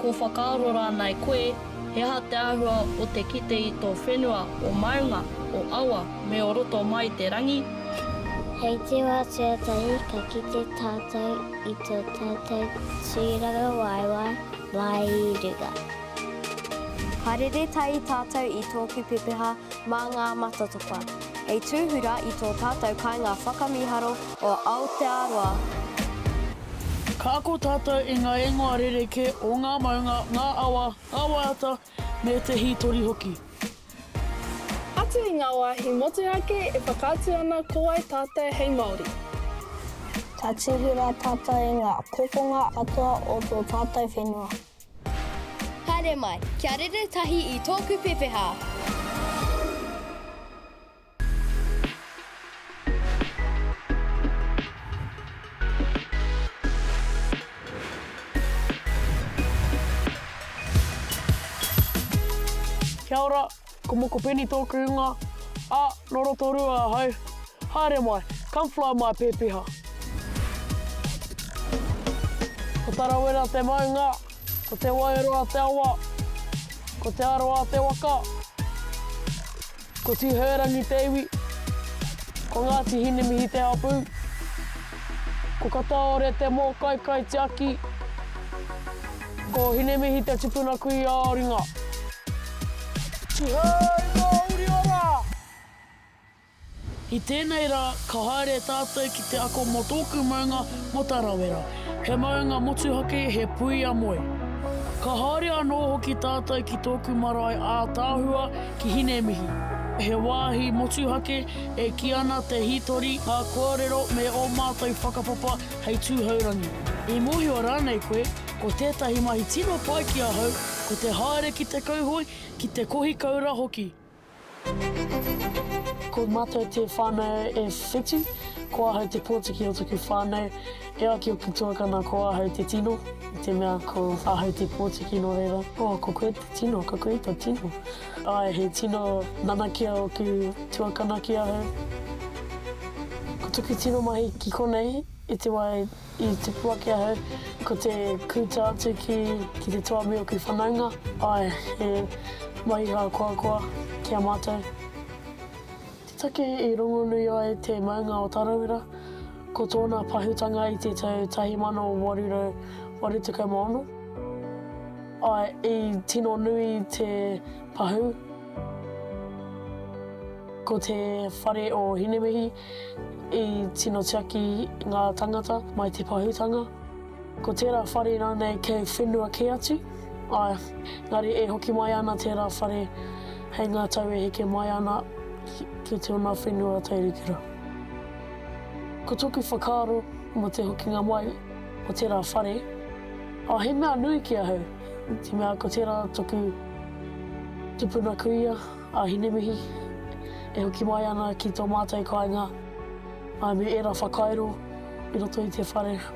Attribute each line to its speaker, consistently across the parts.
Speaker 1: Ko whakaaro rānei koe, he aha te āhua o te kite i tō whenua o maunga, o awa, me o roto mai i te rangi? Hei te wā tuatahi ka kite tātou i tō tātou tūrangawaewae māi i runga. Ka rere tahi tātou i tōku pepeha mā ngā matatopa, hei tūhura i tō tātou kāinga whakamīharo o Aotearoa. Ka ako tātou i ngā ingoa rerekē o ngā maunga, ngā awa, ngā waiata, me te hītori hoki. Atu i ngā wāhi motuhake e whakaatu ana ko wai tātou hei Māori. Ka tuhi rā tātou i ngā kokonga katoa o tō tātou whenua. Haere mai, kia rere tahi i tōku pepeha! Kia ora, ko Mokopeni tōku ingoa, ā, nō Rotorua ahau. Haere mai, come fly my pēpiha. Ko Tarawera te maunga, ko Te Wairoa te awa, ko Te Arawa te waka. Ko Tū Hōrangi te iwi. Ko Ngāti Hinemihi te hapū. Ko Kataore te mōkai kaitiaki. Ko Hinemihi te tupuna kui a Oringa. Tihei Māori ora! I tēnei rā, ka haere tātou ki te ako mō tōku maunga mō Tarawera. He maunga motuhake, he puia moe. Ka haere anō hoki tātou ki tōku marae ātaahua, ki Hinemihi. He wāhi motuhake e kī ana te hītori ngā kōrero me ō mātou whakapapa hei tūhourangi. I mōhio rānei koe, ko tētahi mahi tino pai ki ahau ko te haere ki te kauhoe, ki te kohi koura hoki. Ko mātou te whānau e whitu, ko ahau te pōtiki o taku whānau. E ai ki a Tuakana ko ahau te tino, i te mea ko ahau te pōtiki nō reira. Oh, ko koe te tino, ko koe te tino. Ae, he tino nanakia oku tuakana ki ahau. Ko toku tino mahi ki konei, i te wā i tupu ake ahau, ko te kūta atu ki te toa me oku whanaunga. Ae, he mahi hākoakoa ki a mātou. Take i rongonui ai te maunga o Tarawera, ko tōna pahūtanga i te tau 1886, āe, i tino nui te pahū, ko te whare o Hinemihi i tino tiaki ngā tāngata mai te pahūtanga. Ko tērā whare rānei kei whenua kē atu? Āe, engari e hoki mai ana tērā whare hei ngā tau e heke mai ana ki tōna whenua tairikura. Ko tōku whakaaro mō te hokinga mai o tērā whare, ā, he mea nui ki ahau, te mea ko tērā tōku tupuna kuia a Hinemihi e hoki mai ana ki tō mātou kāinga, āe me ērā whakairo i roto i te whare.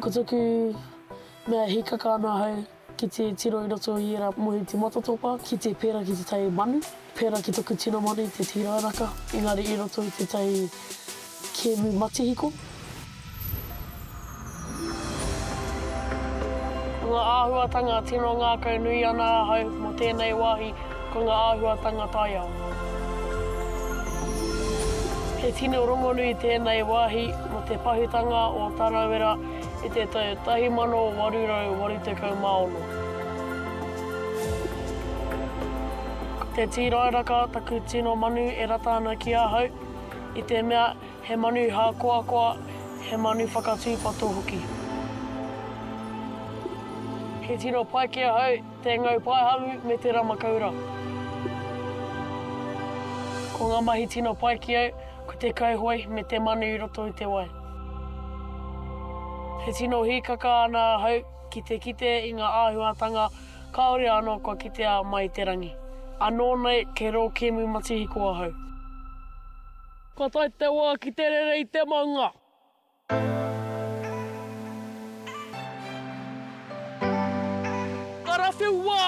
Speaker 1: Ko toku mea e hikaka ana ahau ki te tiro i roto i era mohi te matatopa ki te pera ki tetahi manu, pera ki toku tino manu te tirairaka engari i roto i tetahi kemu matihiko. Ngā āhuatanga tino ngākau nui ana ahau mō tēnei wāhi ko ngā āhuatanga taiao. He tino rongonui tēnei wāhi mō te pahutanga o Tarawera i te tau 1886. Ko te tīrairaka taku tino manu e rata ana ki ahau i te mea He manu hākoakoa, he manu whakatūpato hoki. He tino pai ki ahau te ngau paehamu me te ramakaura. Ko ngā mahi tino pai ki au ko te kauhoe me te manu i roto i te wai. E tino hīkaka ana ahau ki te kite i ngā āhuatanga kāore anō kua kitea mai i te rangi. Anō nei kei rō kēmu matihiko ahau. Ka tae te wā ki te rere i te maunga. Karawhiu wā!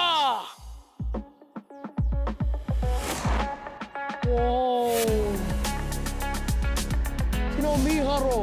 Speaker 1: Woo! Tino mīharo!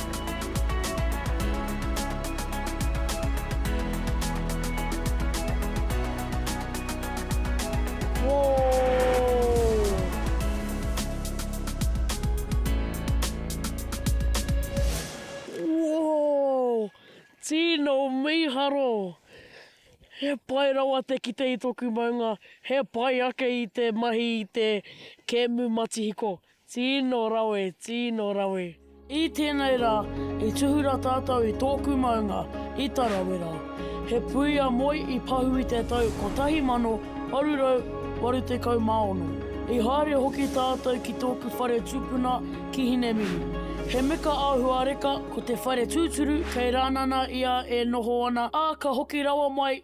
Speaker 1: Tino miharo! He pai rawa te kite i toku maunga, he pai ake i te mahi i te kemu matihiko. Tino rawe, tino rawe. I tēnei rā, i tuhura tātou i tōku maunga, i Tarawera. He puia moe i pahu i te tau 1886. I haere hoki tātou ki tōku whare tūpuna ki Hinemihi. He meka āhuareka ko te whare tūturu kei Rānana ia e noho ana, ā, ka hoki rawa mai,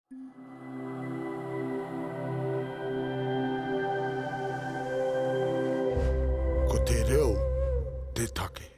Speaker 1: Ko te reo te take.